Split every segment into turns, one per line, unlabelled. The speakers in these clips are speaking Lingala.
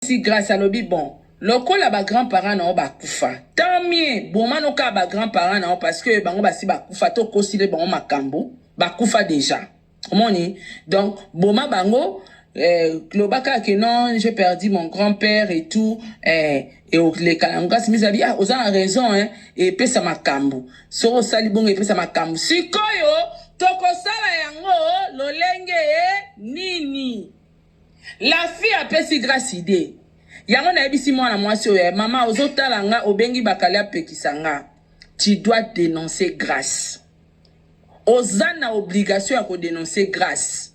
Si grace alobi bon lokola ba grand parents na yo ba kufa tant mieux boma no ka ba grand parents na yo parce que bango basi ba kufa to kosile bango makambu ba kufa dejà omoni donc boma bango eh, loba kaka que non j'ai perdu mon grand père et tout eh, et okoleka na ngasi miza bi ah oza na raison hein et pesa makambu soki osali bongo epesa makambu sikoyo tokosala yango lolenge nini La fille apesi grace idee yango nayebisi mwana mwasi oyo eh, mama ozo tala nga obengi bakali apekisa nga tu dois denoncer grace oza na obligation ya ko denoncer grace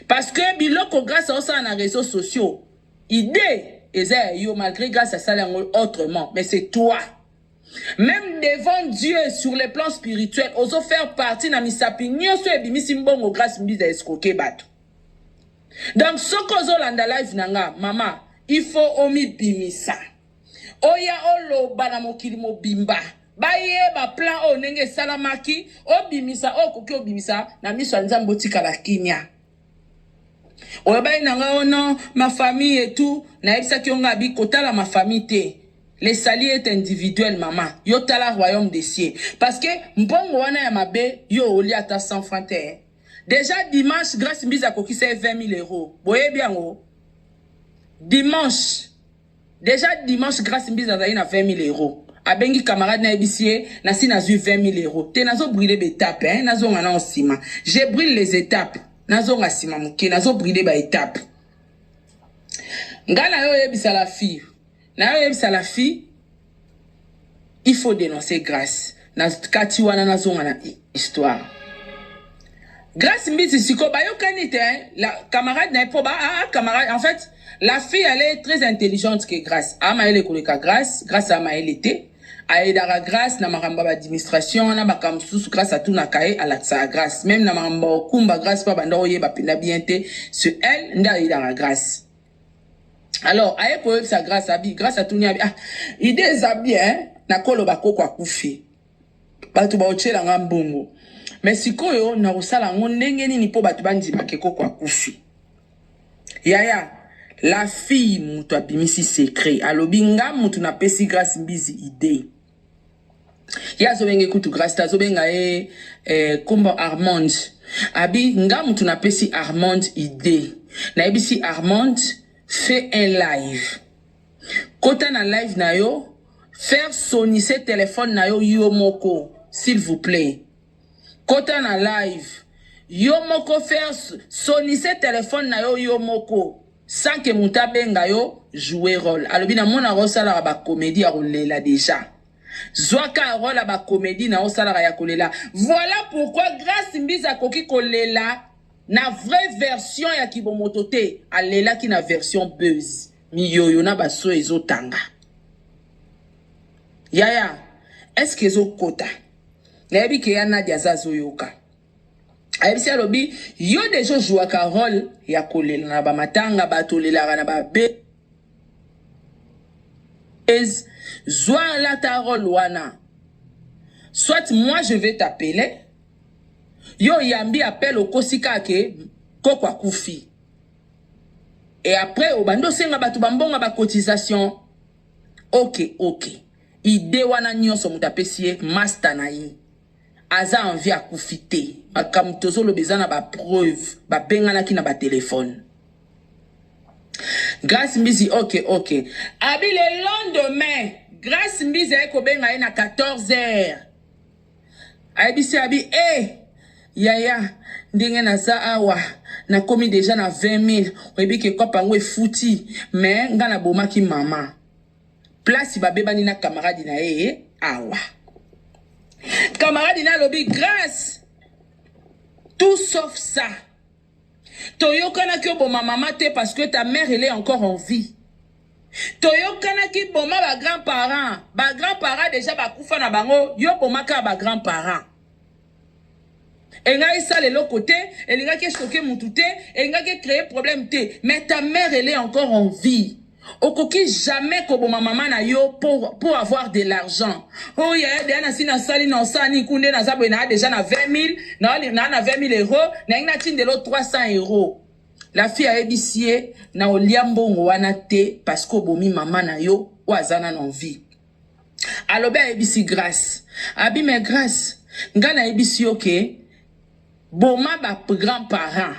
parce que biloko grace aosala na réseaux sociaux idee eza ya yo malgré grace asala yango autrement mais c'est toi Même devant Dieu, sur le plan spirituel, ozo faire partie na misapi nyoso ebimisi mbongo grâce mbiza escroquer bato. Donc soki ozolanda live na nga mama, il faut omibimisa, oya oloba na mokili mobimba bayeba plan oyo ndenge esalamaki, obimisa oyo okoki obimisa na miso ya Nzambe, otikala kimia. Oyebaki na nga oh non, ma famille et tout, nayebisaki yo nga bi kotala ma famille te. Le sali est individuel mama, yo tala royaume des cieux. Parce que mbongo wana ya mabe yo olia ata 100 francs te. Dejà dimanche Grace Mbizi akokisa ye 20000 euros. Boyebi yango? Dimanche. Dejà dimanche Grace Mbizi azali na 20000 euros. Abengi camarade na yebisi ye nasi nazui 20000 euros. Te nazo brûler ba etapes hein, nazonga nao sima. Je brûle les etapes. Nazonga sima muke, nazo brûler ba etapes. Nga na yo oyebisa la fille. Nayo yebisa la fille il faut denoncer Grace na kati wana nazonga na histoire. Grace Mbiti siko bayokani te hein? la camarade na po ba ah, ah camarade en fait la fille elle est très intelligente que Grace. Ah maele koleka Grace, Grace a maele te. ayedaka grâce na makambo ya baadministration wana makambo mosusu grâce atunaka ye alakisaka grâce meme na makambo ya okumba grâce mpo abanda oyeba mpenza bien te ce elle nde ayedaka grâce alors aye koyebisa grâce abi grâce atuni abi ah ide eza bien nakoloba koko akufi bato baotyela nga mbongo me sikoyo nakosala yango ndenge nini mpo bato bandima ke koko akufi yaya la fille moto abimisi secret alobi nga moto napesi grace mbizi idee ye azobenge kutu grace te azobenga ye eh, kombo eh, armand abi nga mutu napesi armand idee nayebisi armand fait un live kota na live na yo faire sonise telefone na yo yo moko s'il vous plaît Kota na live. Yo moko faire sonise telephone na yo yo moko sans que moto abenga yo jouer role. Alobi na mona ko salaka ba comedie ya kolela deja. Zwaka role ya ba comedie na yo salaka ya kolela. Voilà pourquoi Grace Mbiza akoki kolela na vraie version ya kibomoto te. Alelaki na version buzz. miyoyo na baso ezotanga yaya eske ezokota nayebi ke ya Nadia aza azoyoka ayebisi alobi yo deja ojouaka role ya kolela na bamatanga bato olelaka na babe zwa lata role wana soit moi je vais t'appeler yo oyambi appel okosi kaka ke koko akufi et après obandi osenga bato bambonga bacotisation ok ok Idee wana nionso mutu apesi ye masta na ye aza en vie akufi te makambo tozoloba eza na ba preuve babenganaki na ba telephone Grace Mbizi ok ok abi le lendemain Grace Mbizi aye kobenga ye na 14 heures ayebisi abi eh yaya ndenge naza awa nakomi deja na 20 000 oyebi ke kopa yango efuti mais nga nabomaki mama place babebani na camarade na ye awa camarade na alobi grace tout sauf ça toyokanaki oboma mama te parce que ta mère elle est encore en vie toyokanaki boma ba grand parent ba grand parent deja bakufa na bango yo bomaka ba grand parent elingaki esala eloko te elingaki esoke mutu te elingaki ecree problème te mais ta mère elle est encore en vie okoki jamais koboma mama na yo pour, pour avoir de l'argent oyo oh, yaya deya nasi nasali na osala nini kunde naza boye naa deja na 20 000 naa na 20 000 euro nalingi natindelo 300 euro la fille ayebisi ye na olia mbongo wana te parce que obomi mama na yo oyo aza nano en vie alobi ayebisi grace abi me grace ngai nayebisi yo ke boma ba grand parent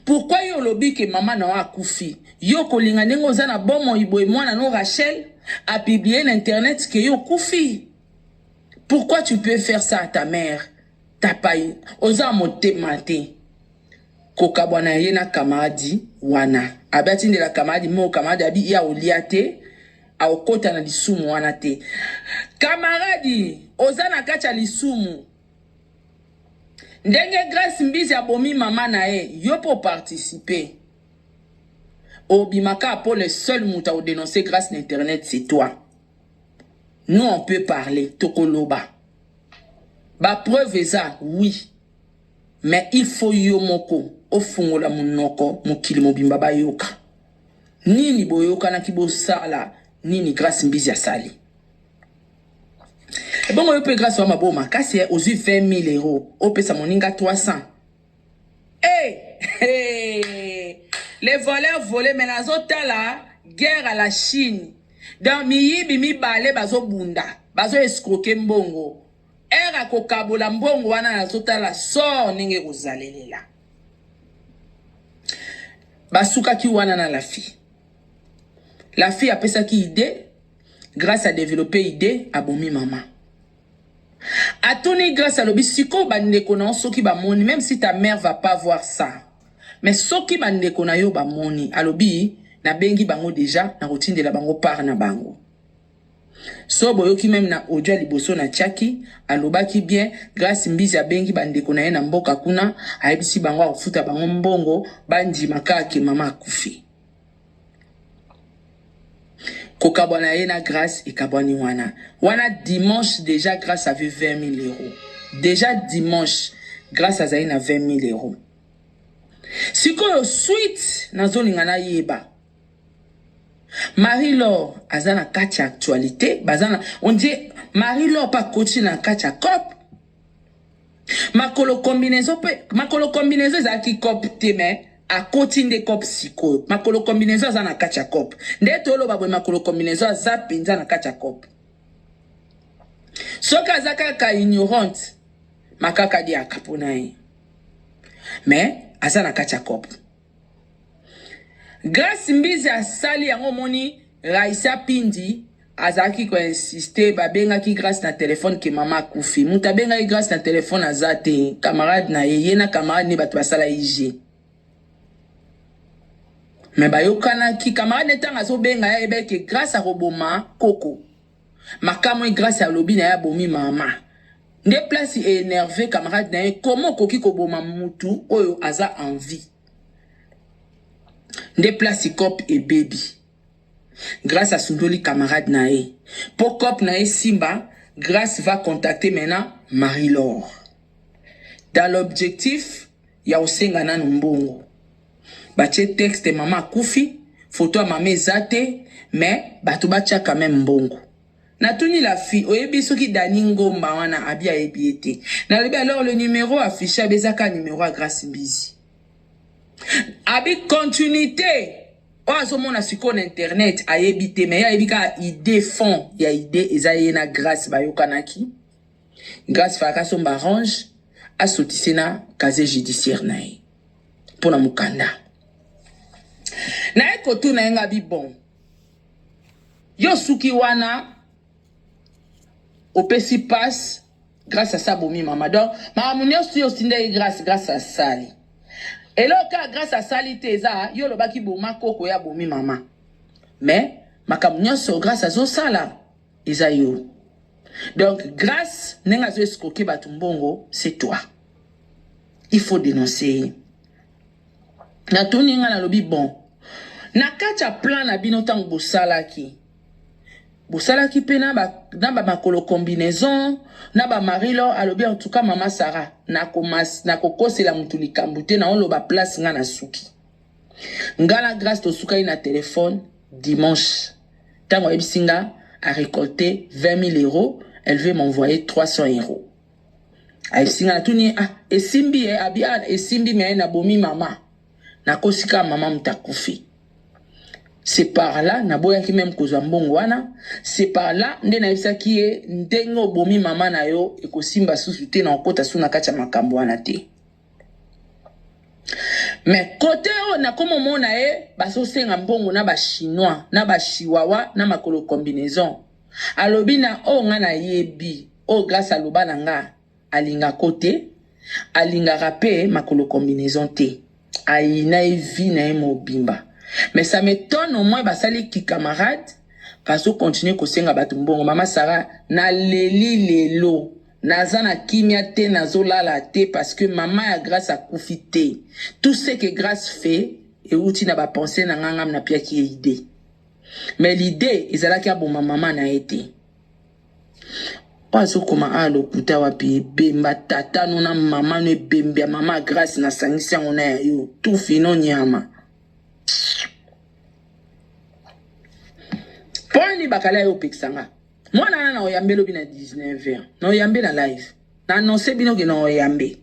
pourkui yo olobi ke mama na yo akufi yo kolinga ndenge oza na bomoi boye mwana no rachel apiblie na internet ke yo okufi pourkui tu peux faire ça à ta mère tapai oza motema te kokabwana ye na kamaradi wana abi atindela kamaradi moko kamaradi abi ya olia te Akokota na lisumu wana te. Kamaradi, oza na kati ya lisumu. Ndenge Grace Mbizi abomi mama na ye, yo mpe oparticipe. Obimaka mpo le seul moto akodenonce Grace na internet, c'est toi. Nous, on peut parler, tokoloba. Ba preuve eza, oui. Mais il faut yo moko ofungola munoko mokili mobimba bayoka. nini boyokanaki bosala nini grace mbizi asali ebongo yo mpe grace wa maboma kasi eh, ozwi 20000 euro opesa moninga 300 hey, hey. les voleurs vole me nazotala guerre à la chine donc miyibi mibale bazobunda bazoescroke mbongo ere akokabola mbongo wana nazotala sor ndenge ekozalelela basukaki wana na lafi lafi apesaki idee grâce à développer idée abomi mama atuni grâce alobi sikoyo bandeko na yo soki bamoni même si ta mère va pas voir ça mais soki bandeko na yo bamoni alobi nabengi bango deja nakotindela bango part na bango So boyoki meme na audio ya liboso na tiaki, alobaki bien Grace Mbizi abengi ba ndeko na ye na mboka kuna, ayebisi bango akofuta bango mbongo bandima kaka ke mama akufi. Kokabwana ye na Grace ekabwani wana. Wana dimanche deja Grace avait 20 000 euros. Deja dimanche Grace azali na 20 000 euros. Sikoyo suite nazolinga nayeba. Marie Laure aza na kati ya actualite baza na on dit Marie Laure pa koti na kati ya cop makolo combinaison pe makolo combinaison ezalaki cop te mais akoti nde cop sikoyo makolo combinaison aza na kati ya cop nde toloba boye makolo combinaison aza mpenza na kati ya cop soki aza kaka ignorante makaka diaka mpo na ye mais aza na kati ya cop Grace mbizi asali yango omoni Raissa pindi azalaki ko insiste ba bengaki Grace na telephone ke mama akufi mutu abengaki Grace na telephone aza te camarade na ye ye na camarade ne batu basala ye jeu mais bayokanaki camarade ne tanga azobenga ye ayebaki ke Grace akoboma koko makamwe grâce alobi na ye abomi mama nde place e énerve camarade na ye comment okoki koboma mutu oyo aza en vie nde place cop ebebi grâce asundoli camarade na ye mpo cop na ye simba grâce va contacter maintenant marie lor dans l'objectif ya kosenga nano mbongo batie texte mama akufi foto ya mama eza te mais bato batia quand même mbongo natuni la fille oyebi soki dani ngomba wana abi ayebi ye te nalobi alors le numero affiche abi eza kaka numero ya grace mbizi abi continuité oyo azomona sikoyo na internet ayebi te mais ye ayebi kaka idée fond ya idée eza ye na grace bayokanaki grace falaka asomba range asotise na casier judiciaire na ye mpo na mokanda naye kotuna ye nga bibon yo suki wana opesi passe grâce à ça bomi mama donc makambo nyonso yo otinda ye grâce grâce asali eloko kaka grâce asali te eza yo olobaki boma koko ya bomi mama mais makambo nyonso grâce azosala eza yo donc grâce ndenge azo escroke bato mbongo c'est toi il faut denoncer ye natuni ngai nalobi bon na kati ya plan na bino ntango bosalaki bosalaki mpe na bamakolo ba combinaison na bamari lor alobi en tout cas mama sara nakokosela na motu likambo te naoloba place ngai nasuki ngai na grace tosukaki na telefone dimanche ntango ayebisi ngai arecolte 20 000 euros elle veut m'envoyer 300 euros ayesinga natuni ye ah, esimbi ye eh, abi ah, esimbi me nabomi mama nakosi kaka mama moto akufi c'est par là naboyaki meme kozwa mbongo wana c'est par là nde nayebisaki ye ndenge obomi mama na yo ekosimba susu te na okota su na kati ya makambo wana te me kote oyo nakoma omona ye bazosenga mbongo na bachinois na bachiwawa na makolo combinaison Alobi na oyo nga na yebi oyo grace aloba na nga alinga ko te alingaka pe makolo combinaison te ayina ye vie na ye mobimba mais ça m'etonne au moins basali ki camarade bazo continuer ko senga batu mbongo mama Sarah na leli lelo naza na kimia te nazo lala te parce que mama ya grace akufi te tout ce que grace fait ewuti na ba pensee na nga nga mnapiaki ye idee. mais l'idee ezalaki aboma mama na ye te oyo azokoma awa lokuta wapi ebemba tata no na mama no ebembe ya mama grace nasangisi yango na ya yo tufi no nyama mpo nini bakala yo opekisa nga mwana wana na oyambe lobi na 19 heure na oyambe na live na annonce bino ke na oyambe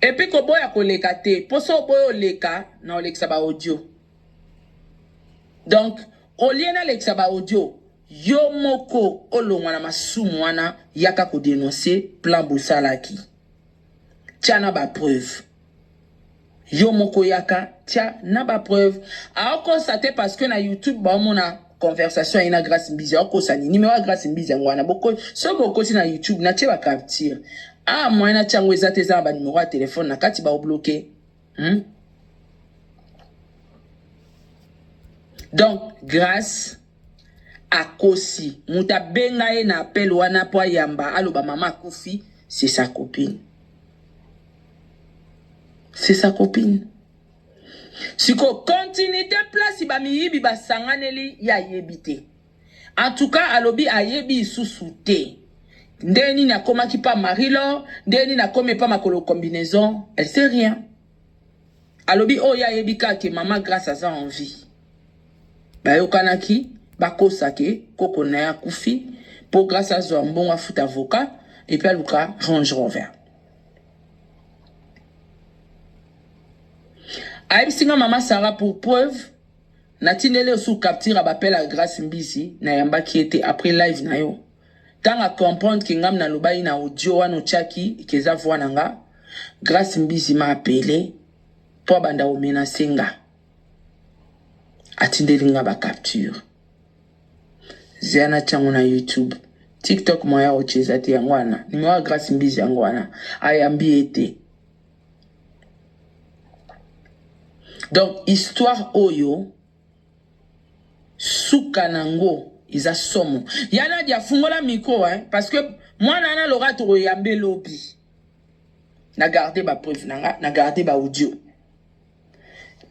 epuis koboya koleka te mpo so oboya oleka na olekisa baaudio Donc, au lieu nalekisa ba audio, yo moko olongwa na masumu wana, yaka ko denoncer plan bosalaki. Tia na ba preuves. Yo moko yaka, tia na ba preuves. Aokosa te parce que na YouTube baomona conversation ya ye na Grace Mbizi. Aokosa nini? Numero ya Grace Mbizi yango wana. Boko, soki bokoti na YouTube, natie ba captures. Awa moyen natia yango eza te, eza na ba numero ya telephone na kati, baobloquer. hmm? donc grace akosi moto abenga ye na appel wana mpo ayamba aloba mama akufi c'est sa copine c'est sa copine siko continuité place bamiyibi basanganeli ye ayebi te En tout cas alobi ayebi isusu te ndenge nini akomaki pa Marie Laure, ndenge nini akomi pa makolo combinaison, elle sait rien. Alobi oyo oh, ayebi kaka ke mama Grace aza en vie. Bayokanaki bakosa ke koko na ye akufi po Grace azwa mbongo afuta avocat et puis aluka Range Rover. ayebisi nga mama sara pour preuve Na tindeli yo sous capture ya ba appel ya Grace Mbizi, na yambaki ye te après live na yo. Tango a comprendre que ngam na lobaki na audio wana otiaki que eza voix na nga, Grace Mbizi m'a appele po abanda ko menacer nga. Atindeli nga ba capture. Zela na tia ngo na YouTube. TikTok moyen ya ko tia eza te yango wana. Numero ya Grace Mbizi yango wana. Ayambi ye te. donc histoire oyo suka nango eza somo ya nadia afungola micro hein, parce que mwana wana loka tokoyambe lobi na garde bapreuve na nga na garde baaudio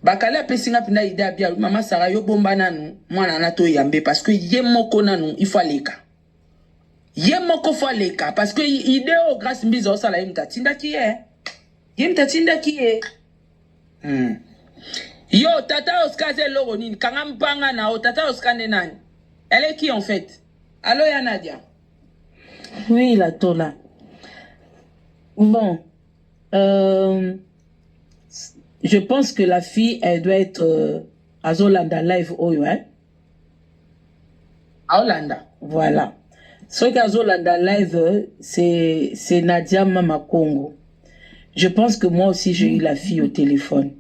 bakali apesi nga mpenza ide abia mama sara yo bomba nanu mwana wana toyambe parce que ye moko nanu ifo aleka ye moko fo aleka parce que idée oyo grace mbiza osala ye moto atindaki ye eh. ye moto atindaki ye hmm. yo tata oscar aza eloko nini kanga mpanga na yo tata oscar nde nani elle est qui en fait alo ya nadia
oui la tola bon euh, je pense que la fille elle doit être euh, azolanda live oyo hein?
aolanda voilà
soki azolanda live c'est c'est Nadia Mama Congo je pense que moi aussi j'ai eu la fille au téléphone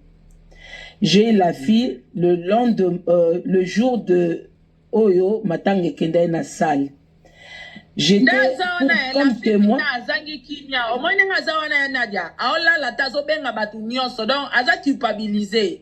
j'ai eu la fille le lendemain euh, le jour de oyo matanga ekendaki na salle j'étais comme témoin azangi kimia omoni ndenge aza wana ya Nadia aolala te azobenga bato nyonso donc aza culpabilise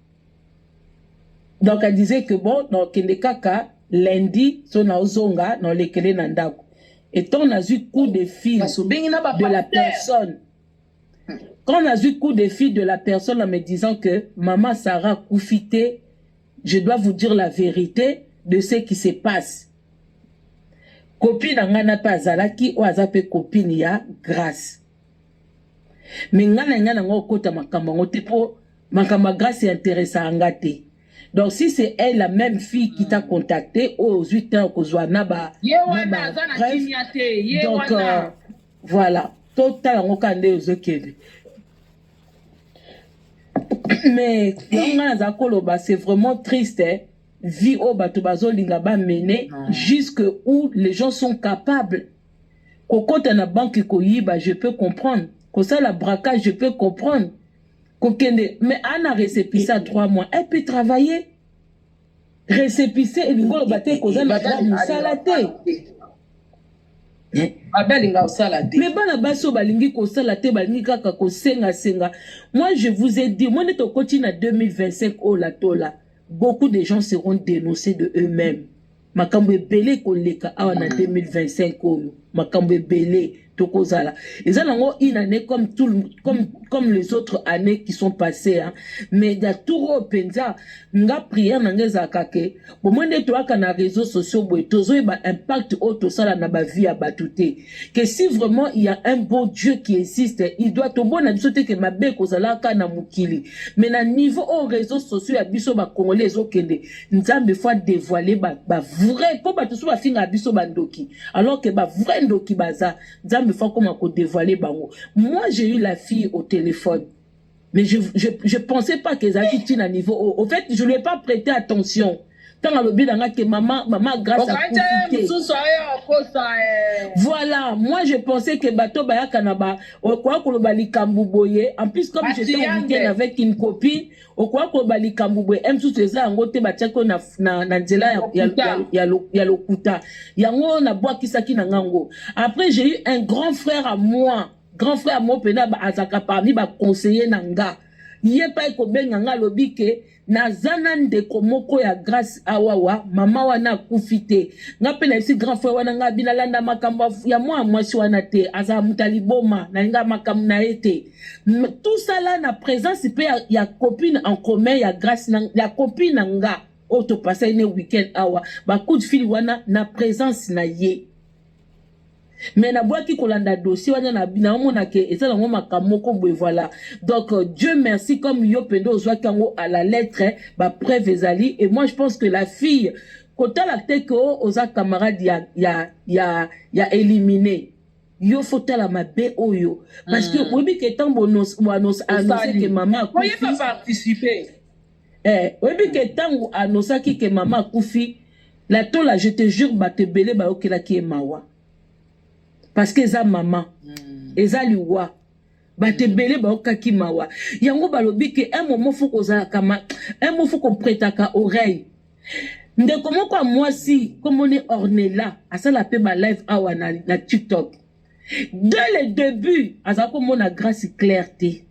donc elle disait que bon nakende kaka lundi so naozonga naolekele na ndako etant nazwi coup de fil de la personne hmm. quand nazwi coup de fil de la personne en me disant que mama sarah kufi te je dois vous dire la vérité de ce qui se passe copine na ngai na mpe azalaki oyo aza mpe copine ya grace mais nga na nga na nga okota makambo yango te po makambo ya grace interesa nga te donc si c'est elle la même fille qui t'a contacté oyo ozwi temps kozwa na ba ye wana aza na kimia te ye donc euh, voilà totala yango kaka nde ozokende mais yango nga naza koloba c'est vraiment triste eh? vie oyo bato bazolinga bamene jusque où les gens sont capables Kokota na banque koyiba je peux comprendre, kosala braquage je peux comprendre, kokende mais ana recepisa 3 mois elle peut travailler. Recepise elingi oloba te koza na droit mosala te.
Babe alinga kosala te. Mais bana basi oyo balingi
kosala te balingi kaka kosenga senga. Moi je vous ai dit, moi nete okoti na 2025 oyo latola, beaucoup de gens seront dénoncés de eux-mêmes. makambo ebele ekoleka awa na 2025 mm. oyo makambo ebele tokozala eza nango une année comme, tout, comme, comme les autres années qui sont passées hein. mais ya tour oyo mpenza nga prière na nga ezalaka ke bomoi nde toyaka na réseau sociaux boye tozoyeba impact oyo tosala na bavie ya bato te ke si vraiment il y a un bon dieu qui existe il doit tomona biso te ke mabe ekozalaka na mokili mais na niveau oyo réseau sociaux ya biso bakongole ezokende nzambe faut adevoile ba, ba vrai mpo bato so bafingaka biso bandoki alors que ba vrai ndoki baza nzambe faut akoma kodevoile bango moi j'ai eu la fille au téléphone mais je, je, je pensais pas que ezalaki ntina niveau oyo au fait je lui ai pas prêté attention ntango alobi na ngai ke mama mama grâce voilà moi je pensais que bato bayaka na ba okoya koloba likambo boye en plus comme j'étais en weekend avec une copine okoya koba likambo boye m susu eza yango te batiaki na, na, na nzela ya, ya, ya, ya, lo, ya lokuta yango nabwakisaki na nga ngo après j'ai eu un grand frère à moi grand frère mo mpena azalaka parmi baconseiller na nga ye pai kobenga nga alobi ke naza na ndeko moko ya grace awawa mama wana akufi te nga mpe nayebisi grand frère wana nga binalanda makambo ya mwana mwasi wana te azala moto ya liboma nalinga makambo na ye te tout ça là na présence mpe ya, ya copine en commun ya grace na, ya copine na nga oyo topasaki ne weekend awa bacoup de fil wana na présence na ye me nabwaki kolanda dossier wana naomona ke eza nango makambo moko boye voilà donc euh, dieu merci comme yo mpenza ozwaki yango à la lettre bapreuve ezali et moi je pense que la fille kotala te ke oza camarade ya, ya, ya, ya élimine yo faut tala mabe oyo parce que mm. oyebi ke ntango annonce que mama akufi
eh,
oyebi ke ntango annosaki ke mama akufi la tola je te jure bato ebele bayokelaki ye mawa parce que eza mama mm. eza liwa bato ebele baokaki mawa yango balobi ke un moment fo kozalaka ma un moment fo kopretaka oreille ndeko moko ya mwasi komoni ornela asala mpe balive awa na, na tiktok dès le début azala komona grace claire te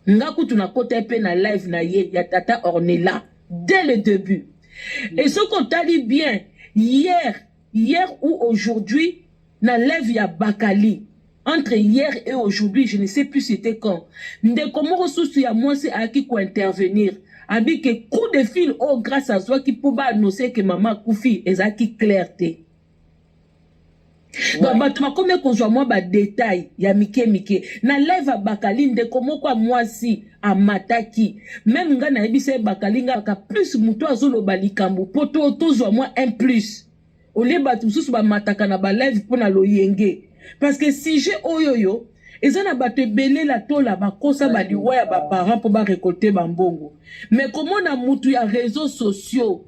nga kutu nakota mpe na live na ye ya tata ornela dès le début et soki otali bien hier hier ou aujourd'hui Na live ya Bakali entre hier et aujourd'hui je ne sais plus c'était quand ndeko moko susu ya mwasi ayaki ko intervenir abi ke coup de fil oyo oh, grâce azwaki mpo ba annonce ke mama akufi ezalaki clair te donc bato bakomi kozwa mwa badetail ya mike mike na live abakali ndeko moko ya mwasi amataki meme ngai nayebisa ye bakali ngaka plus moto azoloba likambo mpo tozwa mwa un plus Au lieu batu mususu ba mataka na ba live pona loyenge parce que sujet oyo yo eza na bato ebele la tola bakosa ba liwa ya ba parents mpo ba récolter ba mbongo mais komona mutu ya réseaux sociaux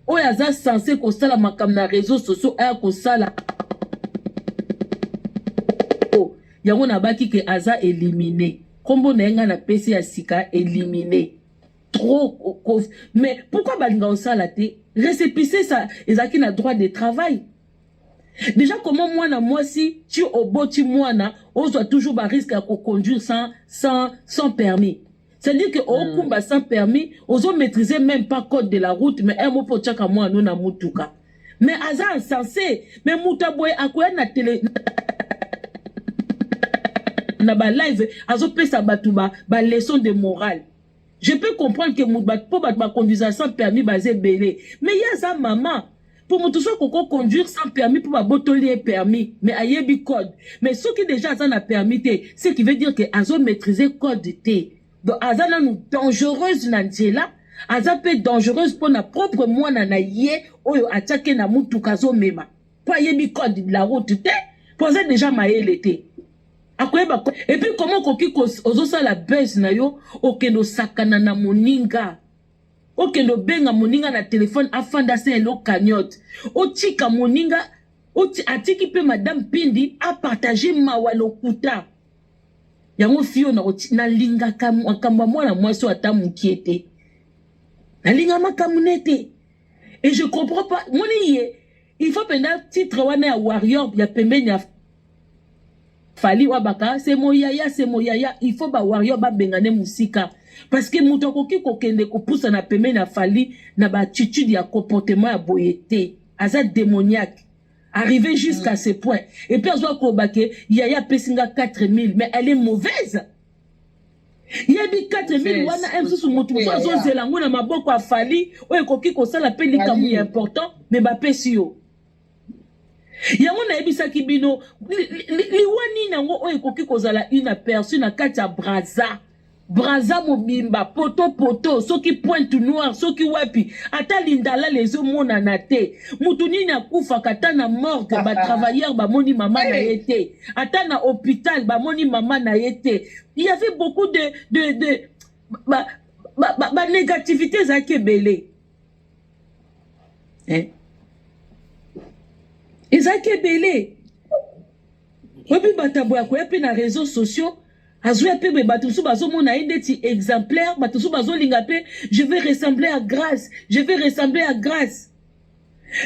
oyo aza sense kosala makambo na réseaux sociaux aya kosala oh, yango nabaki ke aza elimine nkombo na ye ngai napesi ya sika elimine trop cause mais pourquoi balinga osala te récépissé ça ezalaki na droit de travail déjà comment mwana mwasi ti oboti mwana ozwa toujours ba risque ya koconduire sans, sans, sans permis c'est-à-dire que okumba sans permis ozo maîtriser même pas code de la route mais un mot po otyaka mwana na motuka mais aza insensé mais moto aboye akoya na tele na ba live azopesa bato ba, ba leçon de morale je peux comprendre que mutu po bato ba conduisa sans permis baza ebele mais ye aza mama po moto soki koko conduire sans permis po babotoli ye permis mais ayebi code mais soki deja aza na permis te ce qui veut dire que azo maîtrise code te donc aza nanu dangereuse na nzela aza mpe dangereuse mpo na propre mwana na ye oyo atiaki na motuka azomema mpo ayebi code de la route te mpo aza deja mayele te akoyeba et puis comment okoki ozosala buzz na yo okende osakana na moninga okende obenga moninga na telefone afanda se elo cagnote otika moninga atiki mpe madame pindi apartage mawa lokuta yango fio nalingaka makambo ya mwana mwasi oyo ata mokie te nalinga makambo ne te et je comprends pas moni ye Il faut penda titre wana ya warrior ya pembeni ya Fali Wabaka c'est mon yaya c'est mon yaya il faut ba warrior ba bengane musika parce que moto akoki kokende kopusa na pembeni ya Fali na ba attitude ya comportement ya boye te aza démoniaque arrivé jusqu'à mm. ce point et puis azwa koloba ke yaya apesi nga 4000 mais elle est mauvaise yebi 4000 wana ye mosusu motu mosusu azozela yango na maboko ya fali oyo ekoki kosala mpe likambo ya important me bapesi yo yango nayebisaki bino liwa nini yango oyo ekoki kozala une aperçu na kati ya braza braza mobimba poto poto soki pointe noire soki wapi ata lindalala ezomonana te motu nini akufaka ata na morgue batravailleur bamoni mama na ye te ata na hôpital bamoni mama na ye te il y avait beaucoup de de de ba ba, ba, ba négativité ezalaki ebele eh? ezalaki ebele oyebi bato aboya koya mpe na réseau sociaux azoya mpe boye bato mosusu bazomona ye ndeti exemplaire bato mosusu bazolinga mpe je vais ressembler à grâce je vais ressembler à grâce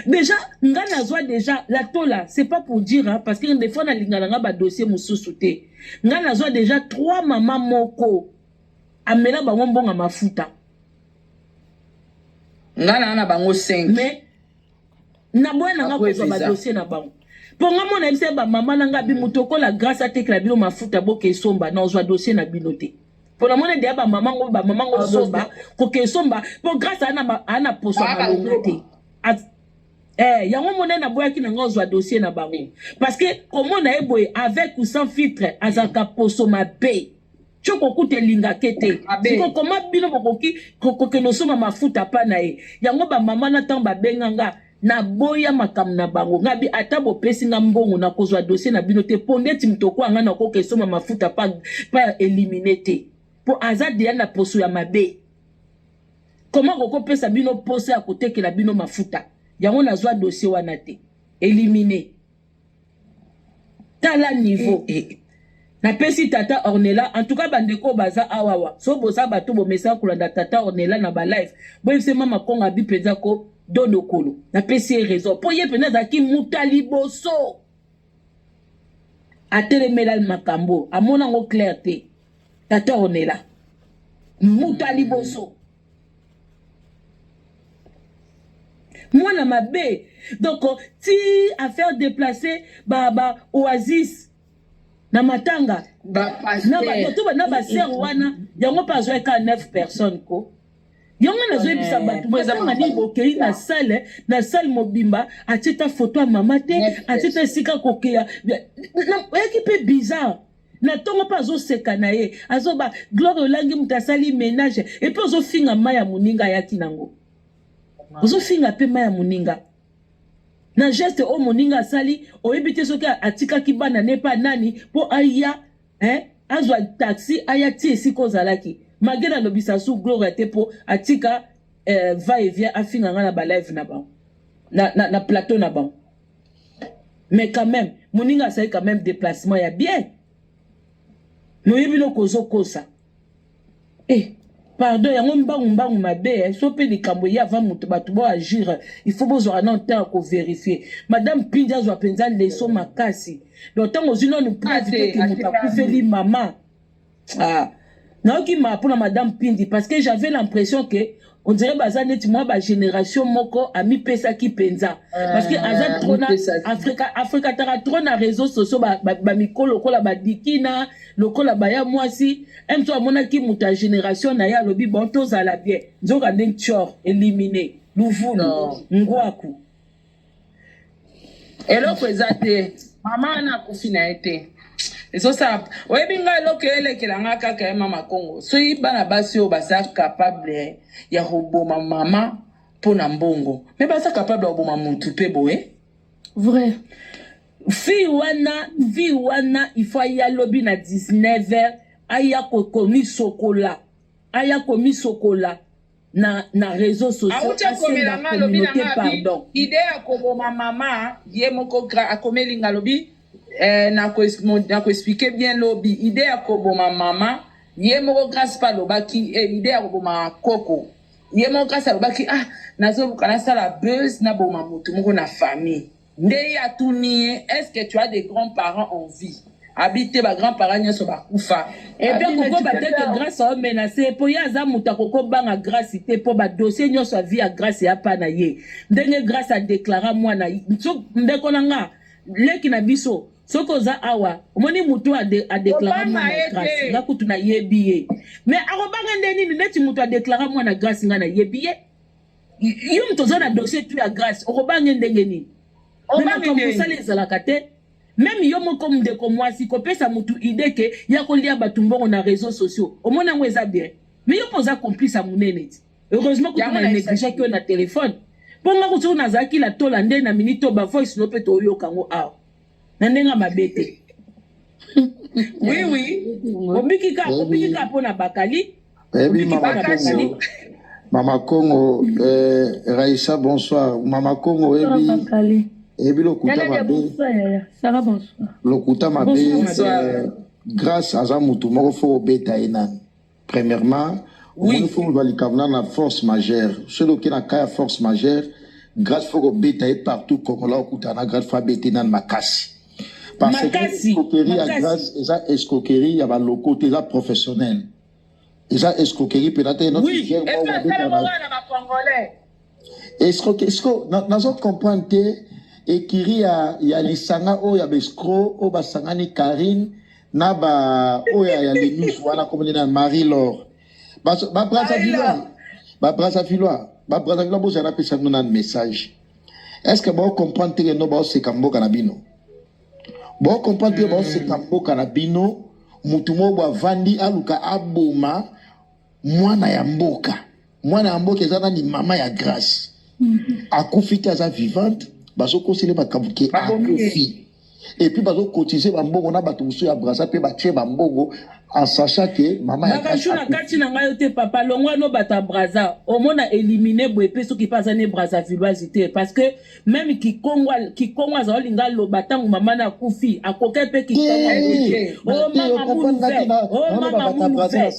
Déjà, nga nazwa déjà la tola, c'est pas pour dire hein, parce que des fois nalingana nga ba dossier mususu te. Nga nazwa déjà trois mama moko amela bango mbonga mafuta.
Nga na na bango 5. Mais
na boya na nga kozwa ba dossier na bango. Po nga mona bisa ba mama na nga bi mutokola grâce à tekla bino mafuta boke somba na ozwa dossier na bino te. pona mona ndeya bamama ngo bamama ngo somba koke somba mpo grâce aa na poso ya malonga te Eh, yango mona naboyaki na nga ozwa dossier na bango parce que komona ye boye avec ou sans filtre azalaka poso mabe tyo kokuta elinga te te siko koma bino bokoki kokende osomba mafuta pa na ye yango bamama na ntango babenga nga naboya makambo na bango ngabi ata bopesi nga mbongo nakozwa dossier na bino te mpo ndeti moto okoa nga nakoka esomba mafuta pa, pa elimine te mpo aza deya na poso ya mabe koma kokopesa bino posa ya kotekela bino mafuta yango nazwa dossier wana te elimine tala niveau eh, eh, eh. napesi tata ornela en tout cas bandeko oyo baza awawa so boza bato bomesaka kolanda tata ornela na balive boyebise mama kongo abi mpenza ko dodokolo napesi ye raison mpo ye mpenza azalaki muta liboso atelemela makambo amona yango claire te tata ornela muta liboso mwana mabe donc ti affaire déplacer ba ba oasis na matanga na baser wana yango mpe azwaka 9 personnes ko yango nazoyebisa eh, bato bozanga nini bokei na sale na sale mobimba atie ta foto ya mama te atie ta esika kokeya oyaki mpe bizarre na tongo mpe azoseka na ye azoba gloire olangi moto asali menage epe ozofinga mai ya moninga ayaki nango ozofinga mpe mai ya moninga na geste oyo moninga asali oyebi te soki atikaki bana ne mpe nani mpo aya eh, azwa taxi aya ti esika ozalaki mage nalobisa su gloria te mpo atika eh, va et vient afinga ngai na balive na bango na, na, na plateau na bango mais quand même moninga asali quand même déplacement ya bien noye bino kozokosa eh pardon yango mbangu mbangu mabe eh, so mpe likambo eye avant moto bato bo agir il faut bozwaka nano ntango ya koverifie madame pindi azwa mpenza leso makasi donc ntango ozwi nano preuve te ke moto akufeli mama ah nayoki ma mpona madame pindi parce que j'avais l'impression que on dirait baza neti mwa bagénération moko amipesaki mpenza ah, parce que aza trop na afrika afrikataka trop na réseau sociaux bamikolo ba, ba lokola badikina lokola baya mwasi mto amonaki moto ya génération na ye alobi bon tozala bien nzoka nde ncor élimine luvunu ngwaku
eloko eza te mama wana akufi na ye te ezosala oyebi ngai eloko elekela ngai kaka ye mama kongo soki bana basi oyo baza capable ya koboma mama mpo na mbongo me baza capable ya koboma motu mpe boye
vrai fille wana fille wana ifo aya lobi na 19 heures aya kokomisokola aya komisokola na na réseau sociauti akomela nga
alobi na nga pardon ide ya koboma mama ye moko akomeli nga alobi eh, nakoexplike bien lobi ide ya koboma mama ye moko grace pa alobaki eh, ide ya koboma koko ye moko grace alobaki ah nazoluka nasala buzz naboma motu moko na famille Nde ye atuni ye est-ce que tu as des grands parents en vie? Abi te ba grands parents nionso bakufa. Epe Abi neti kokoba
te ke tata Grace ao menace ye po ye aza mutu akoko banga Grace te po ba dossier nionso ya vie ya Grace ea pa na ye. Ndenge Grace a declara muana so ndeko na nga leki na biso soki oza awa omoni mutu oyo a de a declara Kobanga muana ye Grace te. nga kutu na yebi ye mais akobanga nde nini neti mutu a declara muana Grace nga na yebi ye. yo moto oza na dossier tu ya grace okobange ndenge nini makambo osala ezalaka te meme yo moko ndeko mwasi kopesa motu ide ke ya kolia bato mbongo na réseau sociaux omona yango eza bien mais yo mpo oza complice ya monene ti heureusement kutu na negligaki yo na telefone mpo nga kutu nazalaki latola nde na minute oyo bavoice no mpe toyoka yango awa na ndenge ya mabe te oui oui obiki ka obiki ka mpo na bakali Baby Mama Congo.
Mama Congo, euh, Raïssa, bonsoir. Mama Congo, Ebi.
Ebi lokuta mabe. Sarah, bonsoir.
Lokuta mabe. Euh, grâce aza mutu moko fo obeta ye nani. Premièrement, oui. omoni fo ozwa likambo na na force majeure soki oke na ka ya force majeure grâce fo kobeta ye partout congolais okutana na grâce fo abete nani makasi parce que Makasi, escroquerie ya makasi. grâce eza escroquerie ya baloko te eza professionnel eza escroquerie mpenza te notre Oui, gère et moko puis abeta
asala na bongo na ba congolais. escroquer
siko nazo comprendre te ekiri ya, ya lisanga oyo ya bescro oyo basangani Karine na ba oyo ya linus wana komoni na Marie Laure ba ba Brazzaville ba Brazzaville ba Brazzaville bozala pesa bino na message est-ce que bo comprendre te no ba seka mboka na bino bo comprendre te ba seka hmm. mboka na bino mutu moko avandi aluka aboma mwana ya mboka mwana ya mboka eza nani mama ya grace mhm. akufi te aza vivante bazokosele makambo ke akufi epuis bazokotize bambongo na bato mosusu ya brasa mpe batie bambongo en sachant que mama ya bakashu na kati na ngai yo
te papa longwa no bato ya braza omona élimine boye mpe soki mpe aza ne brazavilloise te parce que meme kikongo kikongo aza olinga aloba ntango mama na akufi akoke mpe kikongo o mama munu ve o mama munu
ve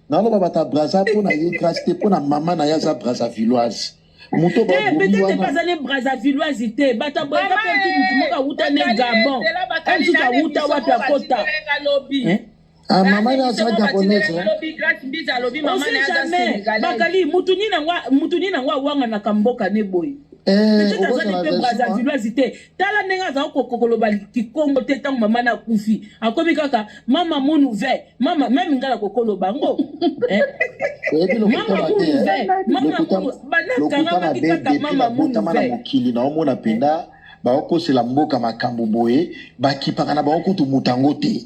naloba bato ya braza mpo na ye grâce te mpo na mama na ye aza brazavilloise moto te peut-être bazali
brazavilloise te bato ya braza mpe ti motu moko awuta ne gabon ensusu awuta wapi akota
Ah, mama na aza gabonaise ose jamais
bakali mutu nini yango awanganaka mboka ne boye peut-être azali mpe brazavilloise te tala ndenge azali kokoloba kikongo te ntango mama na akufi akomi kaka mama munuve mama meme ngai nakokoloba yango eh? mama munuve banakanga baki kaka mama munuve mokili naomona mpenza
bakokosela mboka makambo boye bakipaka na bango kutu moto yango te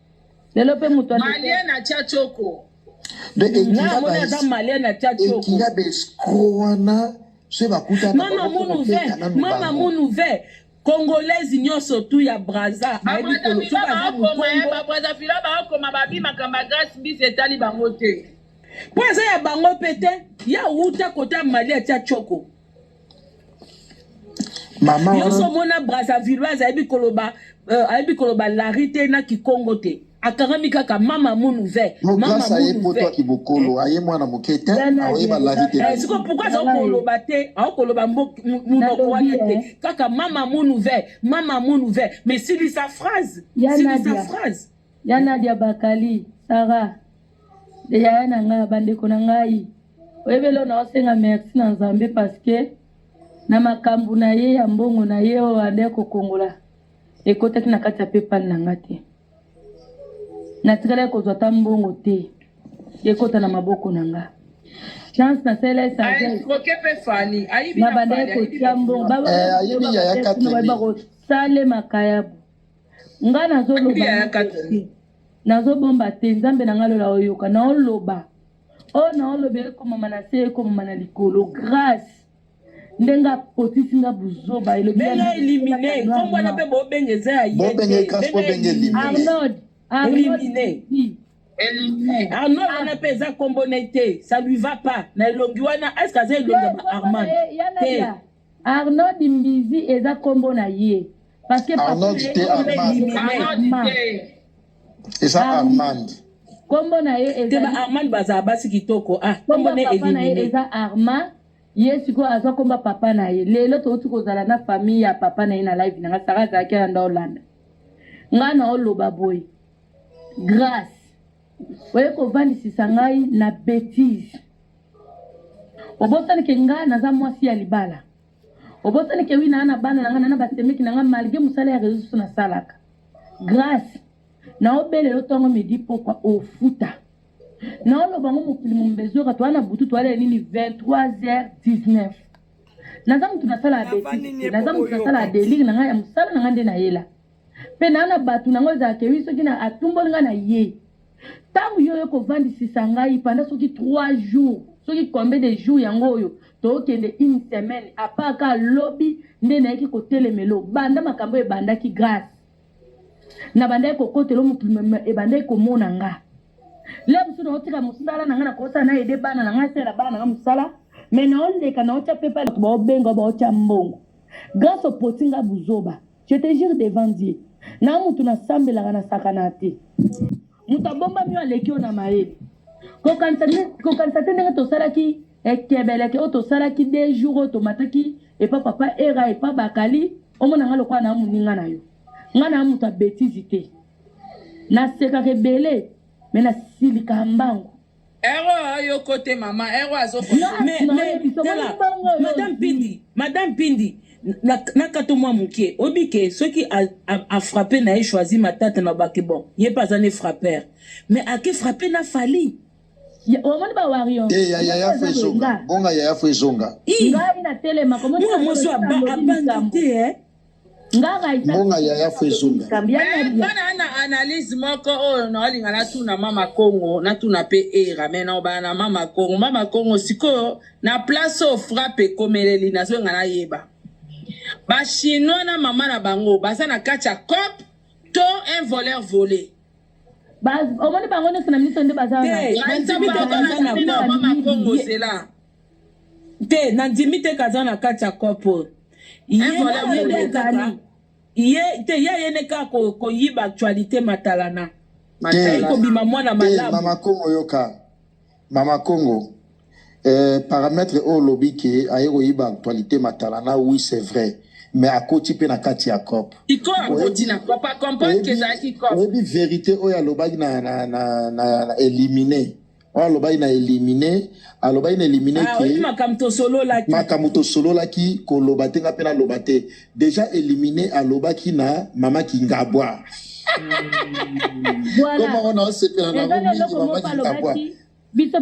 lelo
mpe moto
malien
na tia choko aza malien na tia choko wana
se bakutana mama munuve mama munuve congolaise nyonso tu ya braza ayebi koloso baza mokongo
babrazavila baokoma babi makambo ya grâce mbisi etali bango te mpo eza ya
bango mpe te ya wuta kota mali atia choko mama yo so mona brazzavilloise ayebi koloba euh, ayebi koloba lari te na kikongo te akangami kaka mama munu ve grâce aye poto ya
kibokolo aye mwana moke te aoyeba lari te eh, siko pourkui aza koloba
te aokoloba monoko wana te eh. kaka mama munu ve mama munu ve mais silisa phrase silisa phrase Ya
Nadia Bakali, Sarah, de yaya na nga, bandeko na ngai. Oyebi leo naosenga merci na Nzambe parce que na makambo na ye ya mbongo na ye oyo ade kokongola ekotaki na kati ya PayPal na nga te. Natikalaki kozwa ata mbongo te ekota na maboko na nga. Chance na sela esaje
na bandaki kotia
mbongo
babakosalema
kayabu nga nazoloba nazobomba te nzambe na nga lola oyoka naoloba oyo oh, naoloba ekomama na se ekomama na likolo grâce ndenge apotisi nga buzoba elobibenge elimine
nkombo wana mpe bobenge eza ya
yearnold
arnold wana mpe eza
nkombo na ye te ça lui va pas na elongi wana eske aza elongi ya ba armand te
Arnold mbizi eza kombo na ye parce que Arnold te
Armand eza Armand kombo na
ye te ba Armand baza basi
kitoko ah kombo na papa na ye eza
Armand ye sikoyo azwa komba papa na ye lelo touti kozala na famille ya papa na ye na live na nga sara azalaki na nda olanda ngai na oloba boye grace Oye kovandisisa ngai na betise. Obosani ke nga naza mwasi ya libala. Obosani ke wi naa na bana na nga na basemeki na nga malgré mosala ya reseau sociaux nasalaka. Grace naobele yo tongo midi pokwa ofuta. Naoloba ngo mokili mombe ezoka toa na butu toalela nini 23h19. Naza moto nasala betise. Naza moto nasala delire na nga ya mosala na nga nde nayela. mpe na na bato na yango ezalaka ewi soki na atumboli ngai na ye ntango yo oye kovandisisa ngai panda soki 3 jours soki combien de jours yango oyo tookende une semaine apart ka lobi nde nayeki kotelemelo banda makambo oyo ebandaki grace nabandaki kokotela mokili ebandaki komona nga le mosusu naotika mosala na ngai nakosala na ede bana na ngai asala bana na ngai mosala me naoleka naotya mpe mpe bato baobenga baotya mbongo grace opoti ngai buzoba Je te jure devant Dieu, na mutu na sambelaka na sakana te. Mutu abombami yo aleki yo na mayele. Kokanisa te ndenge tosalaki ekebeleke eh, oyo tosalaki de jour oyo tomataki epa papa era epa bakali omona nga lokola na moninga na yo nga na moto ya betise te nasekaka ebele me nasilikaka mbangu Ero yo
kote mama ero azo mais mais tala madame
pindi madame pindi na, na kato mwa moke oyebi ke soki afrappe na ye choisi matata na bake bon ye mpe aza ne frappeur mais ake frappe na fali omoni
ba wario eh, ya yaya fo ezonga
bonga yaya fo ezonga ngai na telema
komona mwasi abandi
te eh
mbonga yaya fo ezonga bana na
analyse moko oyo naolinga natuna mama congo natuna mpe era me naobana na mama congo mama congo sikoyo na place oyo frappe ekomeleli nazolinga nayeba bachinois na mama na bango baza na kati ya cope to un voleur vole
omoni bango nyonso
na miso nde baza wana te
nandimi te kaza na kati ya coop oyo ye te ye ayene kaka koyiba actualité matalana matali kobima mwana malamu mama kongo yoka
mama kongo eh, parametre oyo olobi ke aye koyiba actualité matalana oui c'est vrai mais akoti mpe na kati ya cop
oyebi verité oyo
alobaki na, na, na, na, na elimine oyo alobaki na elimine alobaki na elimine ah, ke makambo tosololaki
makambo tosololaki koloba te nga mpe
naloba te deja elimine alobaki na mama kingabwa koma wana osepela nango mingi mama kingabwa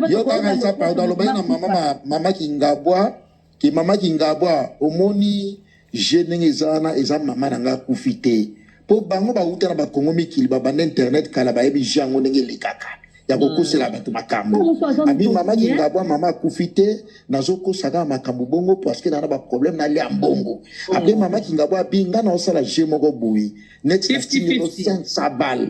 yo kaka eza pardon alobaki na mama kingabwa Ki mama kingabwa omoni je ndenge eza wana eza mama na nga akufi te po bango bawuta na bakongo mikili babanda internet kala bayebi je yango ndenge elekaka ya kokosela hmm. bato makambo abi mama kingabwa mama akufi te nazokosa kaka makambo bongo parceke naa na baproblème nalia mbongo hmm. apres mama kingabwa abi nga naosala je moko boye neti 500 balle